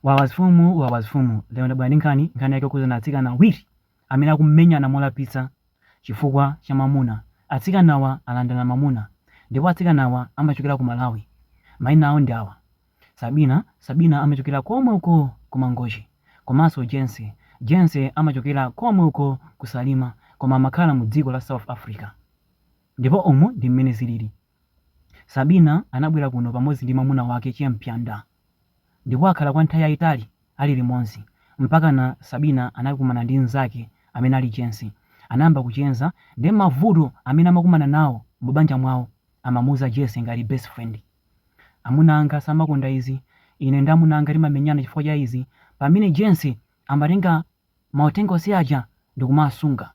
Wawa zifumu wawa zifumu lero ndabwera ndi nkhani, nkhani yake yokhudzana atsikana awiri amene akumenyana molapitsa chifukwa cha mwamuna. Atsikanawa alandana mwamuna ndipo atsikanawa amachokera ku Malawi. Maina awo ndi awa, Sabina, Sabina amachokera komwe uko ku Mangochi komanso Jense, Jense amachokera komwe uko ku Salima koma amakhala mu dziko la South Africa ndipo umu ndi mmene zilili. Sabina anabwera kuno pamodzi ndi mwamuna wake che Mpyanda ndipo akhala kwa nthawi yayitali ali limodzi mpakana Sabina anakumana ndi mzake amene ali Jense anayamba kucheza nde mavuto amene amakumana nawo mu banja mwawo amamuuza Jense ngati best friend amuna anga samakonda izi ine ndi amuna anga timamenyana chifukwa cha izi pamene Jense amatenga mauthenga onse aja ndikumasunga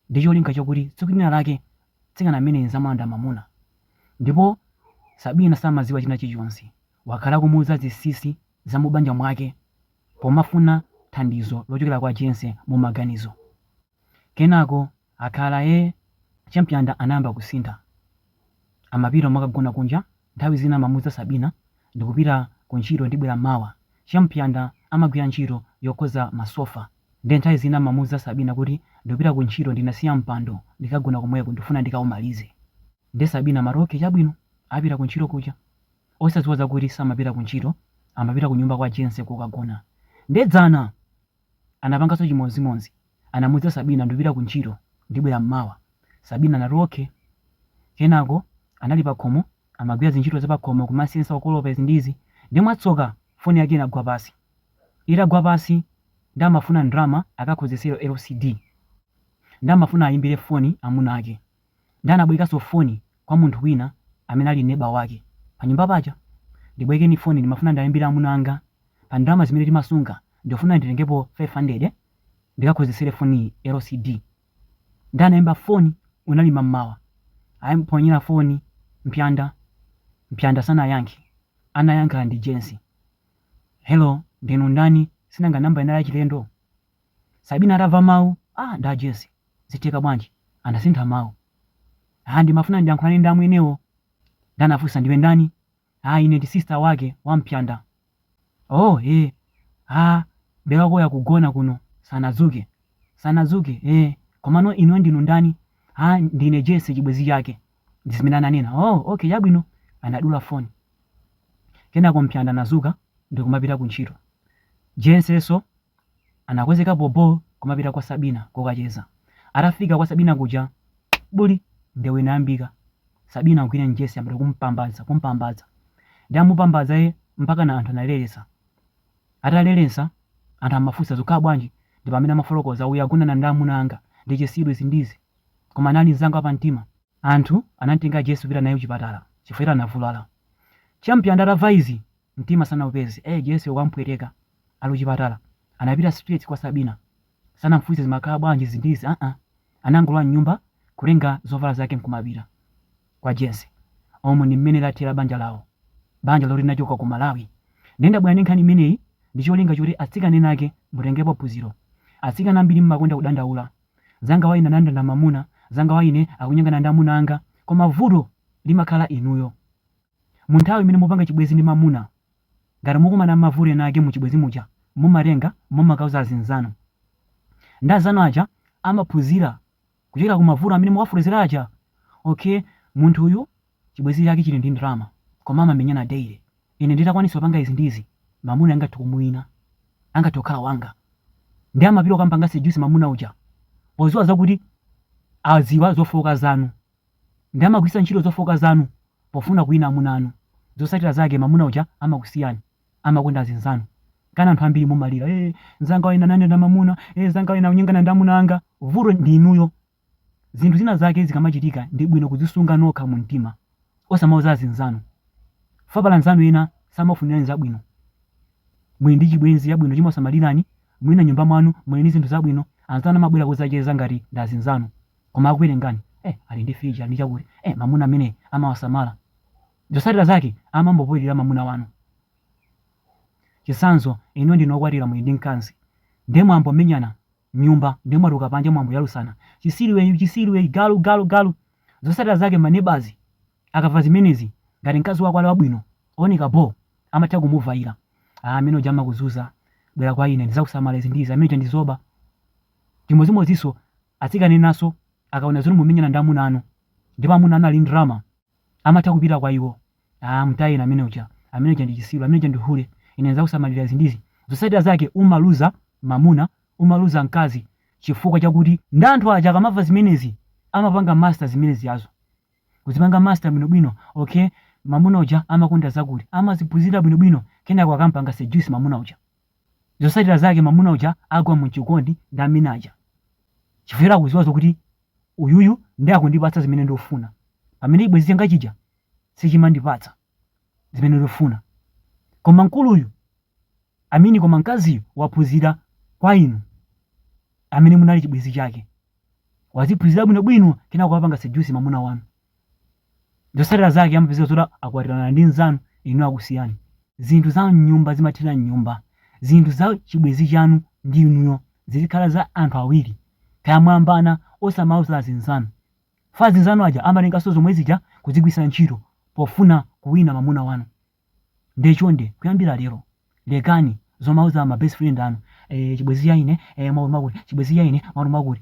ndi cholinga chakuti tsiku lina lake mtsikana ameneyu nzamulanda mamuna ndipo Sabina samaziwa china chilichonse wakhala akumuuza zinsinsi za mubanja mwake pomafuna thandizo lochokera kwa Jense mumaganizo. Kenako akhala ee che Mpyanda anayamba kusintha. Amapita kumakagona kunja Nthawi zina amamuuza Sabina, Ndikupita kuntchito ndibwera mawa. Che Mpyanda amagwira ntchito yokoza masofa nde nthawi zina amamuuza Sabina kuti, Ndikupita kuntchito ndinasiya mpando ndikagona komweko ndikufuna ndikaumalize. Nde Sabina amati, Ok chabwino. Apita kuntchito kuja osadziwa zakuti samapita kuntchito amapita kunyumba kwa Jense kokagona. Nde dzana! Anapanganso chimodzimodzi. Anamuuza Sabina, Ndipita kuntchito, ndibwera m'mawa. Sabina anati, Ok. Kenako anali pakhomo, amagwira zintchito zapakhomo, kumasensa, kukolopa, izi ndi izi. Ndiye mwatsoka, foni yake inagwa pansi. Itagwa pansi, ndiye amafuna ndalama akakonzetsere LCD. Ndiye amafuna ayimbire foni amuna ake. Ndiye anabwerekano foni kwa munthu wina amene ali neba wake panyumba paja. Ndibwerekeni foni, ndimafuna ndiayimbire amuna anga. pa ndalama zimene timasunga ndikufuna nditengepo 500 ndikakonzetsere foniyi LCD nde anaimba foni unali mammawa anamuponyera foni mpyanda mpyanda sanayankhe anayankha ndi Jense hello ndinu ndani sinanga number inali yachilendo Sabina atava mau ah ndi Jense zitheka bwanji anasintha mau ah ndimafuna ndiyankhulane ndi ameneyo nde anafunsa ndiwe ndani Ah, ine ndi sister wake wa Mpyanda. Oh, eh. Ah, brother wakoyu wagona kuno, sanadzuke. Sanadzuke, eh. Komano inuyo ndinu ndani? Ah, ndine Jense chibwezi chake. Ndi zimene ananena. Oh, okay, chabwino. Anadula phone. Kenako Mpyanda anazuka ndi kumapita ku ntchito. Jensenso Anakonzeka bhobho kumapita kwa Sabina kokacheza. Atafika kwa Sabina kuja, buli! Ndewu inayambika. Sabina kugwira Jessi kuyamba kumpambadza, kumpambadza. Ndiye amupambadza ee mpakana anthu analeletsa. Ataleletsa, anthu amafunsa zikukhala bwanji? Ndi pamene amafotokoza, uyu agonana ndi amuna anga, ndi chisiru izi ndi izi. Koma anali mzanga wa pamtima. Anthu anamtenga Jessi kupita naye kuchipatala chifukwa choti anavulala. Champion atamva izi, mtima sanaupeze ee Jessi ukampweteka ali kuchipatala anapita straight kwa sabina sanamfunse zimakhala bwanji izi ndi izi aa anangolowa mnyumba kutenga zovala zake mkumapita kwa Jessi umu ndi mmene lathera banja lawo banja loti linachoka ku malawi nde ndabwera ndi nkhani imeneyi ndi cholinga choti atsikana ena ake mutengepo phunziro atsikana ambiri mmakonda kudandaula nzanga wa ine anandilanda mamuna nzanga wa ine akunyengana ndi amuna anga koma vuto limakhala inuyo Mu nthawi imene mupanga chibwenzi ndi mamuna, ngati mukumana mmavuto ena ake muchibwenzi muja mumatenga mumakauza azinzanu. Nde azanu aja amaphunzira kuchokera kumavuto amene muwafotokozera aja. Okay munthu uyu chibwenzi chake chili ndi ndalama koma amamenyana daily. Ine nditakwanisa kupanga izi ndi izi mamuna angathe kumuwina. Angathe kukhala wanga. Nde amapita kukamupanga seduce mamuna uja podziwa zakuti adziwa zofooka zanu. Nde amagwiritsa ntchito zofooka zanu pofuna kuwina amuna anu. Zotsatira zake mamuna uja amakusiyani. Amakonda azinzanu. Kenako anthu ambiri mumalira ee nzanga wayenda nane na mamuna ee nzanga wayamba kunyengana ndi amuna anga. Vuto ndi inuyo. Zinthu zina zake zikamachitika ndi bwino kudzisunga nokha mu mtima. Osamauza azinzanu. Pajatu anzanu ena samakufunirani zabwino. Muli ndi chibwenzi chabwino chimakusamalirani, mwina nyumba mwanu muli ndi zinthu zabwino, anzanu amabwera kudzacheza ngati ndi azinzanu, koma akuwerengani, eh ali ndi fridge, ali ndi chakuti, eh mamuna ameneyi amawasamala. Zotsatira zake amambopoilira mamuna wanu. Chitsanzo, inuyo ndinu okwatira muli ndi mkazi, nde mwayamba kumenyana mnyumba nde mwatuluka panja mwayamba kuyalutsana, chitsiru iwe chitsiru iwe, galu galu galu. Zotsatira zake ma neighbours Akamva zimenezi ngati mkazi wako ali wabwino ooneka bho amatha kumuvayira aah amene uja amakuzunza bwera kwa ine ndizakusamala izi ndi izi amene uja ndi zoba, chimozimoziso atsikana enaso akaona zoti mumenyana ndi amuna anu ndipo amuna anu ali ndi ndalama amatha kupita kwa iwo aah mtayeni amene uja amene uja ndi chisilu amene uja ndi hule ine ndizakusamalira izi ndi izi zotsatira zake umaluza mamuna umaluza mkazi chifukwa chakuti ndi anthu aja akamamva zimenezi amapanga master zimenezizo Kuzipanga master bwinobwino, okay, mamuna uja amakonda zakuti, amaziphunzira bwinobwino, kenako akampanga seduce mamuna uja, zotsatira zake mamuna uja agwa mu chikondi ndi amene aja, chifukwa choti akuziwa zokuti uyuyu nde akundipatsa zimene ndikufuna, pamene chibwenzi changa chija sichimandipatsa. zimene ndifuna. Koma mkuluyu, I mean koma mkaziyu waphunzira kwa inu amene munali chibwenzi chake. Waziphunzira bwinobwino kenako apanga seduce mamuna wanu. Zotsatira zake amapezeka zoti akwatirana ndi mnzanu inu akusiyani. Zinthu za m'nyumba zimathera m'nyumba. Zinthu za chibwenzi chanu ndi inuyo zizikhala za anthu awiri. Kaya mwayambana osamauza azinzanu. F, Azinzanu aja amatenganso zomwe zija kudzigwiritsa ntchito pofuna kuwina mamuna wanu. Nde chonde kuyambira lero lekani zomauza ma best friend anu, eh chibwezi cha ine mwakuti mwakuti, chibwezi cha ine mwakuti mwakuti.